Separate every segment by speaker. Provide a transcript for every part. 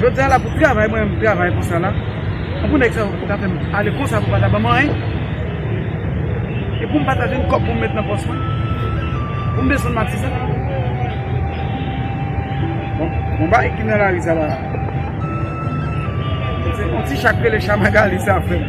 Speaker 1: Jodi a la pou travay mwen menm travay konsa la an pou nèg sa yo ta fèm ale konsa pou pa ta banm anyen e poum pa ta jwenn kòb poum met nan pòs mwen poum desann matizè bon bagay ki nan lari sa la se yon ti cha k rele cha magali sa fèm.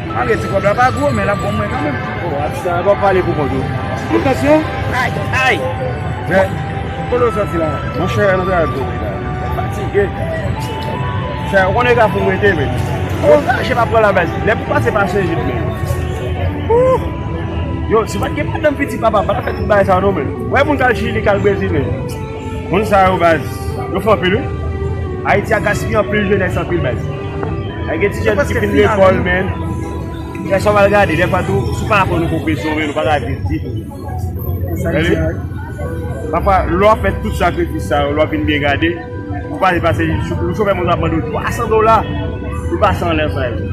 Speaker 1: Malgre ti kòb la pa gwo men lap bon pou mwen kanmenm. Oh atis la pa pale
Speaker 2: pou kont ou. Fout tansyon. Ay
Speaker 1: ay.
Speaker 2: Jè.
Speaker 1: Kote ou soti la. Monchè nou travay pou kob
Speaker 2: la. Fatige. Chè ou konnen kafou mwen te men. Ou angaje pa pran la men. Lè pou pase pa se jip men. Ooh. Yo si pat gen madanm piti papa pa tap fè tout bagay sa non men. Wè moun kal chili kal brezil men. Moun sa yo baz yo fò anpil wi. Ayiti a gaspiye anpil jenès anpil baz. Ay gen ti jèn ki fin lekòl men gen sa w al gade dèfwa tou si w pa aprann ou poko sove l ou pa ka viv ditou. Pafwa lè w ap fè tout sakrifis sa yo lè w ap vin byen gade ou pase pase yon chofè moto ap mande w 300 dola. Ou pase anlè frè yo.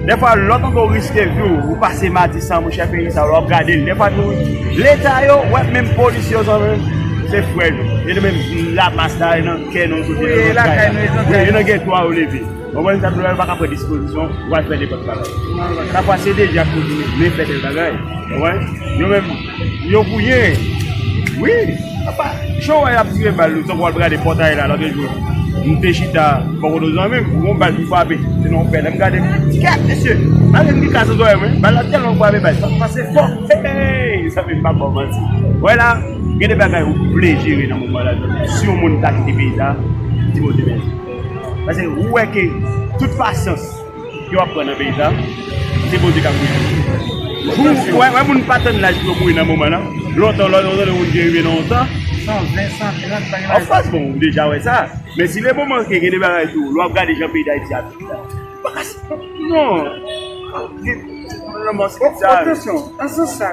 Speaker 2: Dèfwa lò tonton riske vi w ou pase matisan mon chè peyi sa wap gade l dèfwa tou leta yo wè menm polis yo zanmi m se frè nou e nou menm la mas la e nan kè nou kote nou nan kay la e nan gètwa yo leve konprann sa m di w la yo paka pran dispozisyon pou al fè nenpòt bagay sa pase deja pou vini vle fè de bagay konprann yo menm. Yo gouye wi apa jan wè yap tire bal yo tankou wal gade pòtay la lòt jou m te chita bò kote yon zanmi m gon bal ki frape se nan yon pè lèm gade m di ti kèt mesye malgre m gen kras nan zòrèy mwen bal la tèlman frape bal sa pase fò hey mezanmi m pap baw manti wè la gen de bagay ou vle jere nan moman la si yon moun ta kite peyi sa di Bondye mèsi paske ou wè ke tout pasyans Yo ap pran nan peyi sa. Se Bondye kap geri yo. Pou ou wè moun pa tann laj pou yo mouri nan moman nan. Lontan lò yo tande moun ki rive nan yon tan. 120, 130
Speaker 1: bagay la. Anfas bon ou deja
Speaker 2: wè sa. Men si le moman ke gen de bagay tou. Lè wap gade jan peyi dayiti ap viv la. Baka si non. Anfas bon.
Speaker 1: Otansyon. Ansan sa.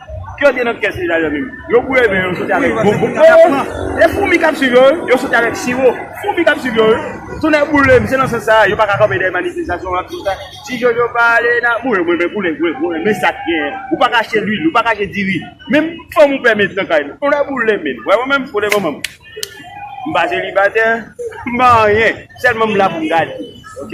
Speaker 2: Kiyès gen nan kès li dayè menm? Yo bouye men yo soti avèk bon bon oo e foumi kap swiv yo wi yo soti avèk siwo foumi kap swiv yo wi tonnè boulem se nan sans sa yo paka kanpe dèyè manifestasyon an tout tan ti jojo pa ale nan mwen mwen men koulè mwen mwen men sak genyen ou paka achte lwil ou paka achte diri menm fanm ou pè met nan kay nou tonnè boulem menn wè mwen menm kote manman m m pa selibatè m pa anyen sèlman m la pou m gade ok.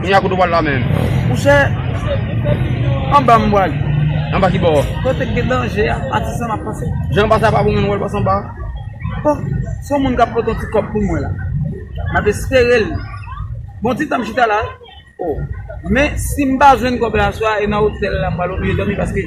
Speaker 2: Kounya
Speaker 1: kote w pral
Speaker 2: la menm?
Speaker 1: Ou
Speaker 2: chè? Anba m pral. Anba ki bò? Kote k gen danje
Speaker 1: a, a ti san m ap pase. Jan anba sa pa bon menm w al
Speaker 2: pase anba a? Bon,
Speaker 1: se yon moun k ap pote yon ti kòb pou mwen la. M ap espere l. Bon ti tan m chita la. O. Men, si m pa jwenn kòb la aswè a e nan otèl la m pral oblije dòmi paske.